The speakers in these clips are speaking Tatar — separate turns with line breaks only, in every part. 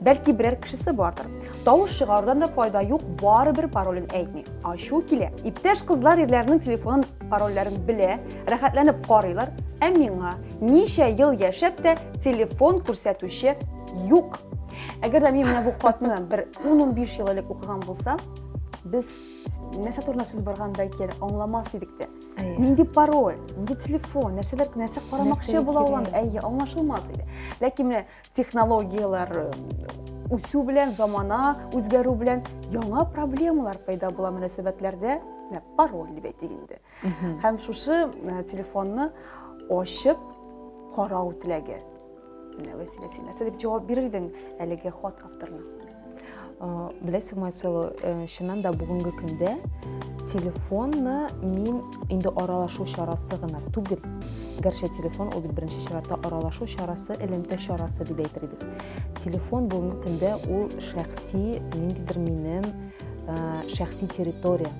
Бәлки берәр кешесе бардыр. Тавыш чыгарудан да файда юк, барыбер паролен әйтми. Ачу килә. Иптәш кызлар ирләрнең телефонын парольләрен белә, рәхәтләнеп карыйлар, ә миңа ничә ел яшәп тә телефон күрсәтүче юк. Әгәр дә мин менә бу хатны бер 10-15 ел элек укыган булсам, без нәрсә турында сүз барган бәлки әле аңламас идек тә. Нинди пароль, нинди телефон, нәрсәләр нәрсә карамакчы була ул, әйе, аңлашылмас иде. Ләкин менә технологияләр үсү белән замана үзгәрү белән яңа проблемалар пайда була мөнәсәбәтләрдә менә пароль дип әйтик инде һәм шушы э, телефонны ачып карау теләге менә вәсилә син нәрсә дип җавап бирердең әлеге хат авторына
Беләсең, Марсело, чыннан да бүгенге көндә телефонны мин инде аралашу чарасы гына түгел, гәрчә телефон ул бит беренче чиратта аралашу чарасы, элемтә чарасы дип әйтер идек. Телефон бүгенге көндә ул шәхси, ниндидер минем шәхси территория,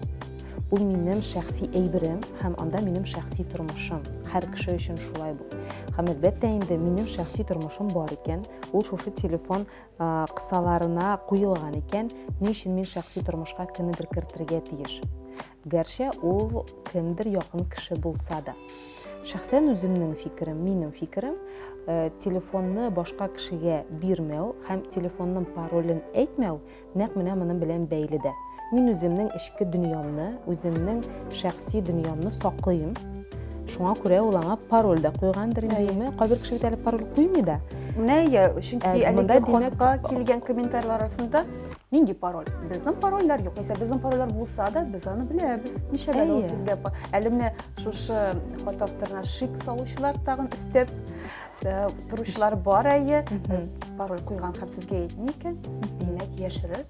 ул минем шәхси әйберем һәм анда минем шәхси тормышым һәр кеше өчен шулай бу һәм әлбәттә инде минем шәхси тормышым бар икән ул шушы телефон кысаларына куелган икән, ни өчен мин шәхси тормышка кемнедер кертергә тиеш? Гәрчә ул кемдер якын кеше булса да. Шәхсән үземнең фикерем, минем фикерем, э, телефонны башка кешегә бирмәү һәм телефонның паролен әйтмәү нәкъ менә моның белән бәйле дә. Мин үземнең эчке дөньямны, үземнең шәхси дөньямны саклыйм. Шуңа күрә ул аңа пароль дә куйгандыр инде. Кайбер кеше бит әле пароль куймый да. Менә ия, чөнки
әлеге хатка килгән комментарийлар арасында нинди пароль? Безнең парольләр юк. Исә безнең парольләр булса да, без аны беләбез. Ничә бәлә ул сезгә? Әле менә шушы хат авторына шик салучылар тагын өстәп Э, торучылар бар әйе э, пароль куйган һәм сезгә әйтми икән димәк яшерер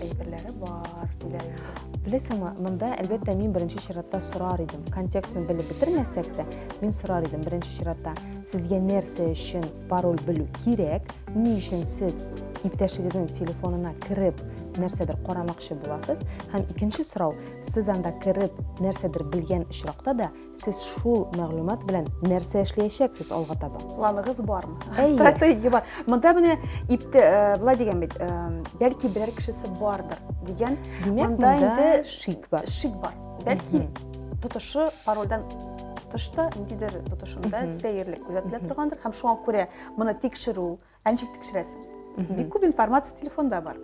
әйберләре бар диләр инде беләсеңме
монда әлбәттә мин беренче чиратта сорар идем контекстны белеп бетермәсәк тә мин сорар идем беренче чиратта сезгә нәрсә өчен пароль белү кирәк ни өчен сез иптәшегезнең телефонына кереп нәрсәдер карамакчы буласыз һәм икенче сорау сез анда кереп нәрсәдер белгән очракта да Сез шул мәгълүмат белән нәрсә эшләячәксез алга таба? Планыгыз бармы?
Стратегия бар. Монда менә ипте э, былай дигән бит, э, бәлки берәр кешесе бардыр дигән. Димәк, монда инде
шик бар. Шик бар. Бәлки
тотышы парольдән тышта, ниндидер тотышында сәерлек күзәтелә торгандыр һәм шуңа күрә моны тикшерү Ә ничек тикшерәсең? Бик күп информация телефонда бар.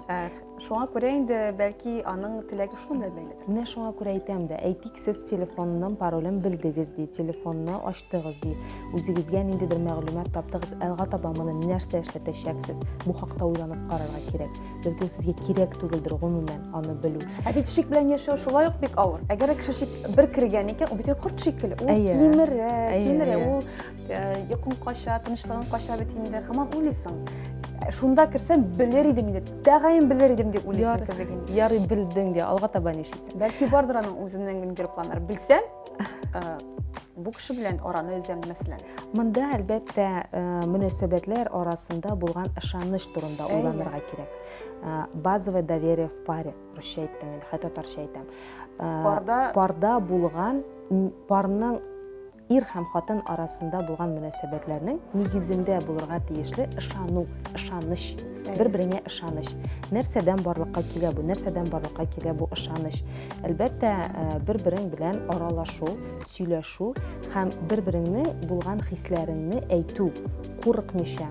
Ә, Шуңа күрә инде бәлки аның теләге шуның белән бәйледер. Менә шуңа күрә әйтәм
дә, әйтик, сез телефонның паролен белдегез ди, телефонны ачтыгыз ди, үзегезгә ниндидер мәгълүмат таптыгыз, алга таба моны нәрсә эшләтәчәксез, бу хакта уйланып карарга кирәк. Бәлки ул сезгә кирәк түгелдер гомумән аны белү. Ә бит шик белән яшәү
шулай ук бик авыр. Әгәр дә кеше шик бер кергән икән, ул бит инде корт шикелле. Ул Әйе. кимерә, Әйе, кимерә. әйе. Ул Йокың кача, тынычлыгың кача бит инде, хаман уйлыйсың. Шунда керсәм, белер идем инде, тәгаен белер идем дип уйлыйсың кебек инде. Ярый белдең дә,
алга таба нишлисең? Бәлки бардыр аның үзеннән
генә килеп планнар. Белсәм, бу кеше белән араны өзәм мәсәлән монда әлбәттә
мөнәсәбәтләр арасында булган ышаныч турында уйланырга кирәк базовое доверие в паре русча әйттем мин хәтта татарча әйтәм парда парда булган парның Ир һәм хатын арасында булган мөнәсәбәтләрнең нигезендә булырга тиешле ышану, ышаныч, бер-береңә ышаныч. Нәрсәдән барлыкка килә бу? Нәрсәдән барлыкка килә бу ышаныч? Әлбәттә, э, бер-берең белән аралашу, сөйләшү һәм бер-береңнең булган хисләреңне әйтү, курыкмыйча,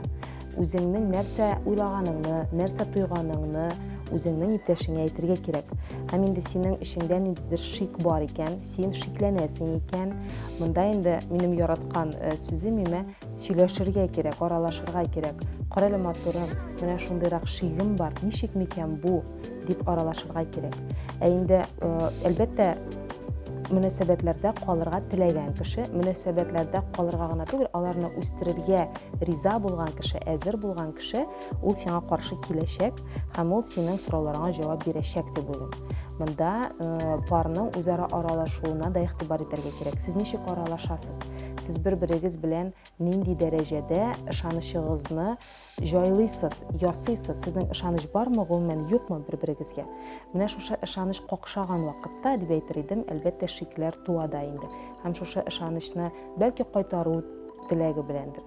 үзеңнең нәрсә уйлаганыңны, нәрсә тойганыңны үзеңнең иптәшеңә әйтергә кирәк. Һәм инде синең эчеңдә ниндидер шик бар икән, Син шикләнәсең икән, монда инде минем яраткан э, сүзем имә, сөйләшергә кирәк, аралашырга кирәк. Карале матурым, менә шундыйрак шигем бар, ничек микән бу, дип аралашырга кирәк. Ә инде, э, әлбәттә, мөнәсәбәтләрдә калырга теләгән кеше, мөнәсәбәтләрдә калырга гына түгел, аларны үстерергә риза булган кеше, әзер булган кеше, ул сиңа каршы киләчәк. һәм ул синең сорауларыңа җавап бирәчәк дип уйлыйм мында э, парның үзара аралашуына да игътибар итәргә кирәк сез ничек аралашасыз сез бер берегез белән нинди дәрәҗәдә ышанычыгызны җайлыйсыз ясыйсыз сезнең ышаныч бармы гомумән юкмы бер берегезгә менә шушы ышаныч какшаган вакытта дип әйтер идем әлбәттә шикләр туа да инде һәм шушы ышанычны бәлки кайтару теләге беләндер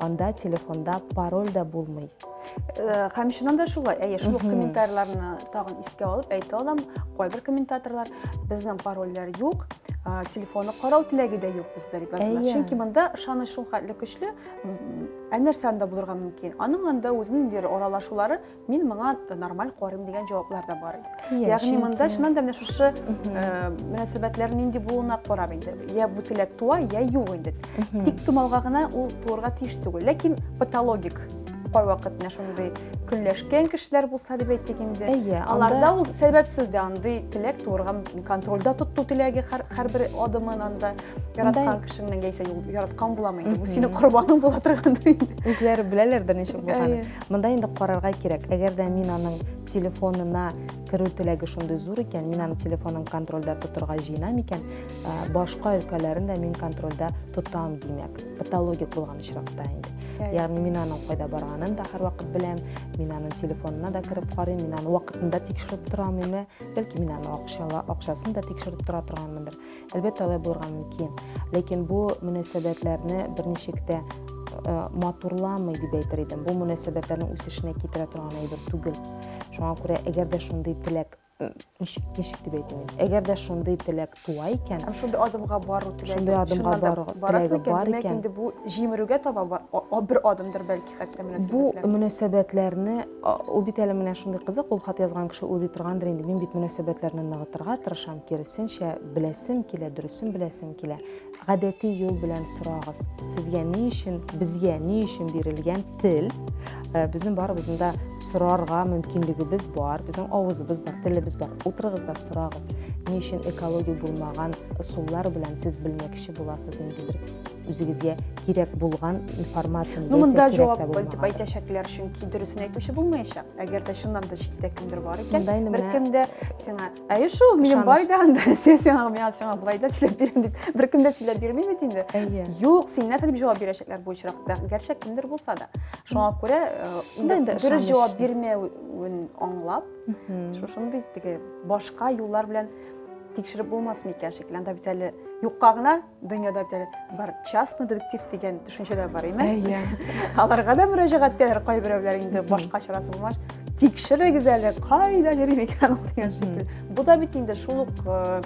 Анда телефонда пароль да булмый. Һәм
чыннан да шулай. Әйе, шул ук комментарийларны тагын искә алып әйтә алам. Кайбер комментаторлар безнең парольләр юк, телефонны карау теләге дә юк бездә дип язалар. Чөнки монда ышаныч шул хәтле көчле, ә нәрсә анда булырга мөмкин? Аның анда үзенең аралашулары мин моңа нормаль карыйм дигән җаваплар да бар иде ягъни монда чыннан да менә шушы э, мөнәсәбәтләр нинди булуына карап инде я бу теләк туа я юк инде тик томалга гына ул туырга тиеш түгел ләкин патологик кайвакыт менә шундый көнләшкән кешеләр булса дип әйттек инде әйе аларда ул сәбәпсез дә андый теләк туырга мөмкин контрольдә тоту теләге һәрбер адымын анда яраткан кешеңнең яисә яраткан буламы инде бу синең корбаның була торгандыр инде үзләре беләләрдер
ничек булганын Монда инде карарга кирәк. Әгәр дә мин аның телефонына керү теләге шундый зур икән, мин аның телефонын контрольдә тотырга җыенам икән, ә, башка өлкәләрен дә мин контрольдә тотам, димәк, патологик булган очракта инде. Ягъни мин аның кайда барганын да һәрвакыт беләм, мин аның телефонына да кереп карыйм, мин аны вакытында тикшереп тораммы, бәлки мин аны акчала, акчасын да тикшереп тора торганмындыр. Әлбәттә, алай булырга мөмкин. Ләкин бу мөнәсәбәтләрне берничек тә э, матурламый дип әйтер идем. Бу мөнәсәбәтләрнең үсешенә китерә торган әйбер түгел. Шуңа күрә, әгәр дә шундый теләк ничек ничек дип әйтим әгәр дә шундый теләк туа икән һәм шундый адымга бару
теләге шундый адымга бару теләге
бар икән инде бу җимерүгә
таба бер адымдыр бәлки хәтта бу
мөнәсәбәтләрне Ул бит әле менә шундый кызык, ул хат язган кеше уйлый торгандыр инде, мин бит мөнәсәбәтләрне ныгытырга тырышам, киресенчә, беләсем килә, дөресен беләсем килә. Гадәти юл белән сорагыз. Сезгә ни өчен, безгә ни өчен бирелгән тел? Э, безнең барыбызның да сорарга мөмкинлегебез бар, безнең авызыбыз бар, телебез бар. Утырыгыз да сорагыз. Ни өчен экология булмаган ысуллар белән сез белмәкче буласыз ниндидер үзегезгә кирәк булган информация ну, монда җавап
итеп әйтәчәкләр чөнки дөресен әйтүче булмаячак әгәр дә чыннан да читтә кемдер бар икән беркем дә сиңа әйе шул минем бар иде анда син сиңа миңа сиңа болай да сөйләп бирәм дип беркем дә сөйләп бирми бит инде әйе юк син нәрсә дип җавап бирәчәкләр бу очракта гәрчә кемдер булса да шуңа күрә э, дөрес җавап бирмәвен аңлап шушындый теге башка юллар белән тикшереп булмасмы икән шикелле анда бит әле юкка гына Дөньяда бит әле бар частный детектив дигән төшенчә дә бар, име? Әйе. Аларга да мөрәҗәгать итәләр кайберәүләр инде башка чарасы булмач. Тикшерегез әле, кайда йөри микән ул дигән шикелле. Бу да бит инде шул ук э,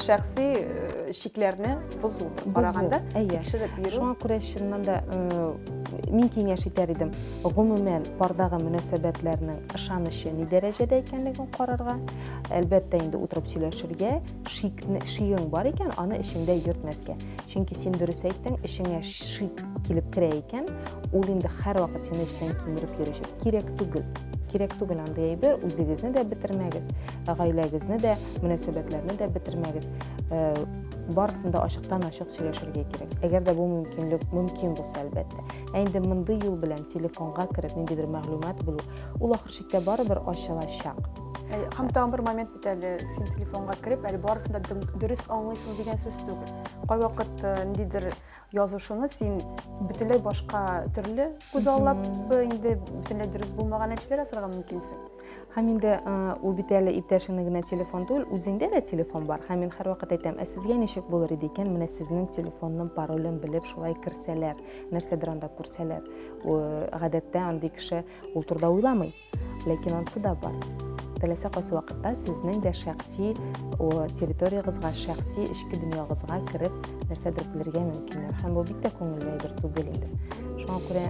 шәхси э, чикләрне бозу караганда әйе. тикшереп йөрү. Шуңа күрә чыннан да
э, мин киңәш итәр идем. Гомумән, пардагы мөнәсәбәтләрнең ышанычы ни дәрәҗәдә икәнлеген карарга, әлбәттә инде утырып сөйләшергә, шикне, шигең бар икән, аны эчеңдә йөртмәскә. Чөнки син дөрес әйттең, эчеңә шик килеп керә икән, ул инде һәрвакыт сине эчтән кимереп йөрәчәк. Кирәк түгел. Кирәк түгел андый әйбер, үзегезне дә бетермәгез, гаиләгезне дә, мөнәсәбәтләрне дә бетермәгез. Э, барысын да ачыктан-ачык сөйләшергә кирәк. Әгәр дә бу мөмкинлек мөмкин булса, әлбәттә. Ә инде мондый юл белән телефонга кереп ниндидер мәгълүмат белү, ул ахыр чиктә барыбер ачылачак. Һәм тагын
бер момент Әле син телефонга кереп, әле барысын да дөрес аңлыйсың дигән сүз түгел. Кайвакыт э, ниндидер язышуны син бөтенләй башка төрле күз аллап, э, инде бөтенләй дөрес булмаган нәтиҗәләр ясарга мөмкинсең. Һәм инде
э, ул бит әле иптәшеңне генә телефон түгел, үзеңдә дә телефон бар. Һәм мин һәрвакыт әйтәм, ә сезгә ничек булыр иде икән, менә сезнең телефонның паролен белеп шулай керсәләр, нәрсәдер анда күрсәләр. Гадәттә андый кеше ул турыда уйламый. Ләкин ансы да бар. Теләсә кайсы вакытта сезнең дә шәхси территориягызга, шәхси эчке дөньягызга кереп, нәрсәдер белергә мөмкиннәр. Һәм бу бик тә күңелле әйбер түгел инде. Шуңа күрә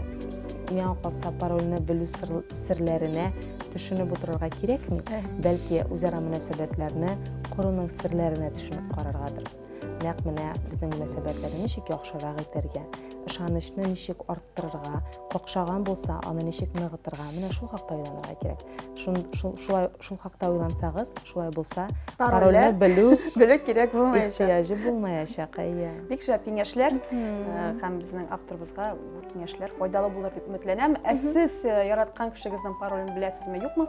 миңа калса парольне белү серләренә төшенеп утырырга кирәкми, бәлки үзара мөнәсәбәтләрне коруның серләренә төшенеп караргадыр. Нәкъ менә безнең мөнәсәбәтләрне ничек яхшырак итәргә, ышанычны ничек арттырырга, какшаган булса, аны ничек ныгытырга, менә шул хакта уйланырга кирәк. Шул, шул, шулай, шул хакта уйлансагыз, шулай булса, парольне белү, белү кирәк булмаячак.
Ихтияҗы булмаячак,
әйе. Бик шәп
киңәшләр һәм безнең авторыбызга бу киңәшләр файдалы булыр дип өметләнәм. Ә сез яраткан кешегезнең паролен беләсезме, юкмы?